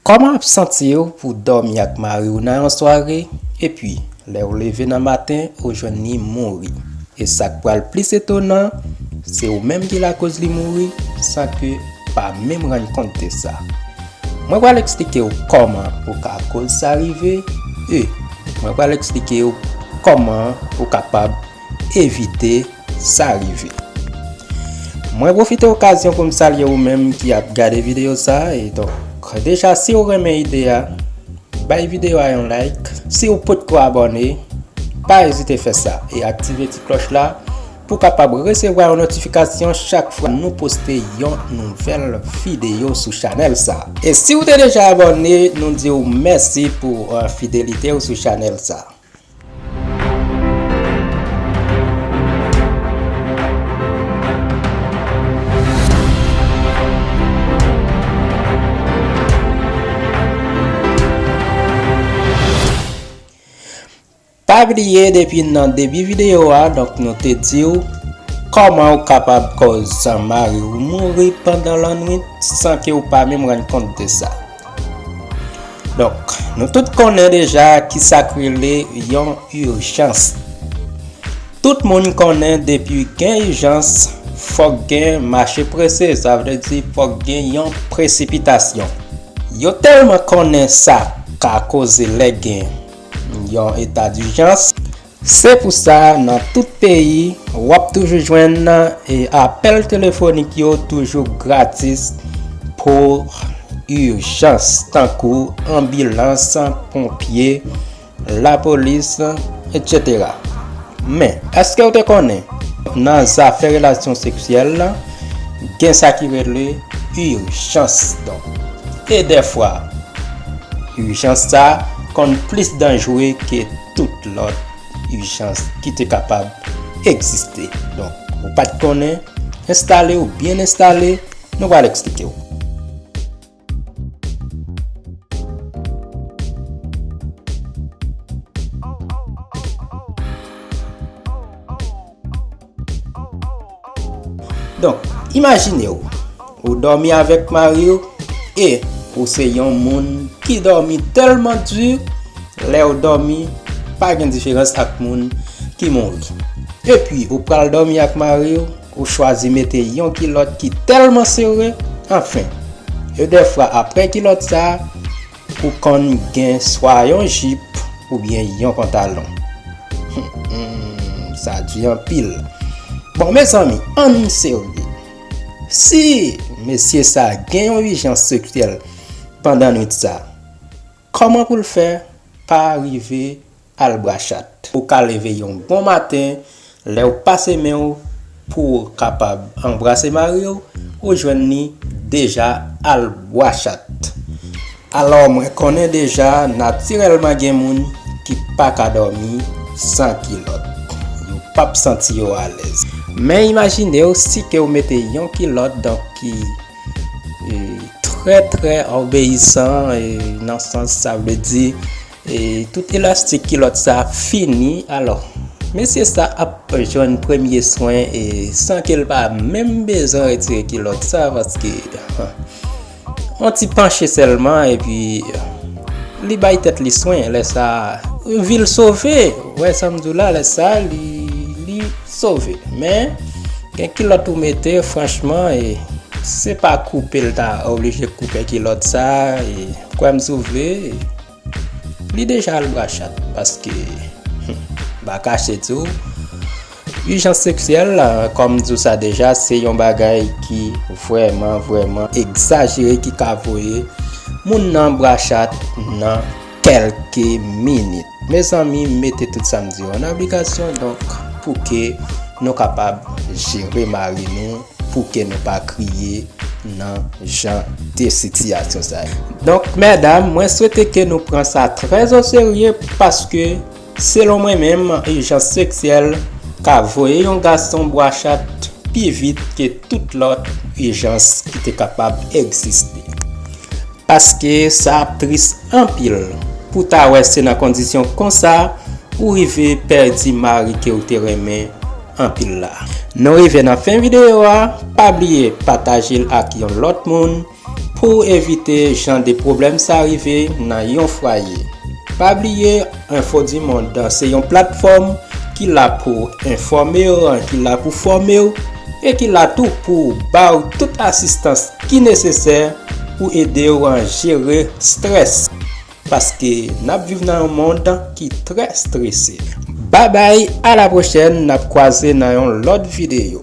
Kòman ap santiw pou dòmi ak mariw nan yon sware epi lèw leve nan maten ou jwenn li mouri e sak pral plis etonan se ou menm ki lakoz li mouri san ke pa menm rann kont de sa mwen pral eksplikew kòman ou ka koz sa rive e mwen pral eksplikew kòman ou kapab evite sa rive. Mwen profite okazyon pou m salye ou menm ki ap gade videyo sa e donk deja si ou renmen ide a bay videyo a yon like si ou pot ko abone pa ezite fè sa e aktive ti kloch la pou kapab resevwa yon notifikasyon chak fwa nou poste yon nouvel videyo sou chanel sa e si ou te deja abone nou di ou mèsi pou fidelite ou sou chanel sa. Pa bliye depi nan debi videyo a donk nou te di ou Koman ou kapab koz mari ou mouri pandan lannwit san ke ou pa menm rann kont de sa. Donk, nou tout konnen deja ki sa k rele yon ijans. Tout moun konnen depi gen ijans, fòk gen mache prese, sa vle di fòk gen yon presipitasyon. Yo tèlman konnen sa ka koze lè gen yon eta dijans. Se pou sa nan tout peyi w ap toujou jwenn apèl telefonik yo toujou gratis pou ijans tankou anbilans, ponpye, lapolis etc. Men, èske w te konnen nan zafè relasyon seksyèl gen sa ki rele ijans don? E dèfwa ijans sa konn plis danjre ke. tout lòt ijans ki te kapab egziste. Donk, ou pa t konnen, enstale ou byen enstale, nou pral eksplike ou. Donk, imajine w, ou dòmi avèk mari w e ou se yon moun ki dòmi tèlman di, lè ou dòmi pa gen diferans ak moun ki mouri. Epi ou pral dòmi ak mari w, ou chwazi mete yon kilòt ki tèlman sere, anfen, e dèfwa apre kilòt sa, Pou konn gen swa yon jip ou byen yon pantalon Humm sa du anpil Bon mezanmi ann serye Si mesye sa gen yon ijans seksyèl pandan nwit sa Koman pou l fè pa rive Al bra chat. Ou ka leve yon bon maten, lè ou pase men ou pou ou kapab anbrase mari ou, ou jwenn li deja al bwa chat. Alò mwen konnen deja natirèlman gen moun ki pa ka dòmi san kilòt. Yo p ap santi yo alèz. Men imajine ou si ke ou mete yon kilòt donk ki trè trè obeyisan nan sans sa vle di. Tout elastik kilòt sa fini alò mesye sa ap jwenn premye swen san ke l pa menm bezwen retire kilòt sa paske yon ti panche sèlman epi li bay tèt li swen lè sa vi l sove ou wè sa m di w la lè sa li sove men gen kilòt ou mete franchman se pa koupe l ta oblije koupe kilòt sa. Kwèm si w vle, li deja al bra chat paske m pa kache di w ijans seksyèl kòm m di w sa deja se yon bagay ki vrèman vrèman egzajere ki ka voye moun nan bra chat nan kèlke minit. Mezanmi mete tout sa m di yo an aplikasyon donk pou ke nou kapab jere mari nou. Pou kè nou pa kriye nan jan de sitiyasyon sa yo. Donk mèdam, mwen swete ke nou pran sa trè o serye paske selon mwen menm ijans seksyèl ka voye yon gason bwa chat pi vit ke tout lòt ijans ki te kapab egziste. Paske sa ap tris anpil pou ta wè se nan kondisyon konsa ou rive pèdi mari ke ou te renmen, anpil la. Nou rive nan fen video a, pa bliye patajel ak yon lòt moun pouw evite jan de pwoblèm sa rive nan yon fwaye. Pa bliye info du monde se yon platfòm ki la pouw enfòmew, ki la pou fòmew e ki la tou pou baw tout asistans ki nesesè pou edew jere strès. Paske nap viv nan yon mond ki trè strese. Bye bye a la prochèn nap kwaze nan yon lòt videyo.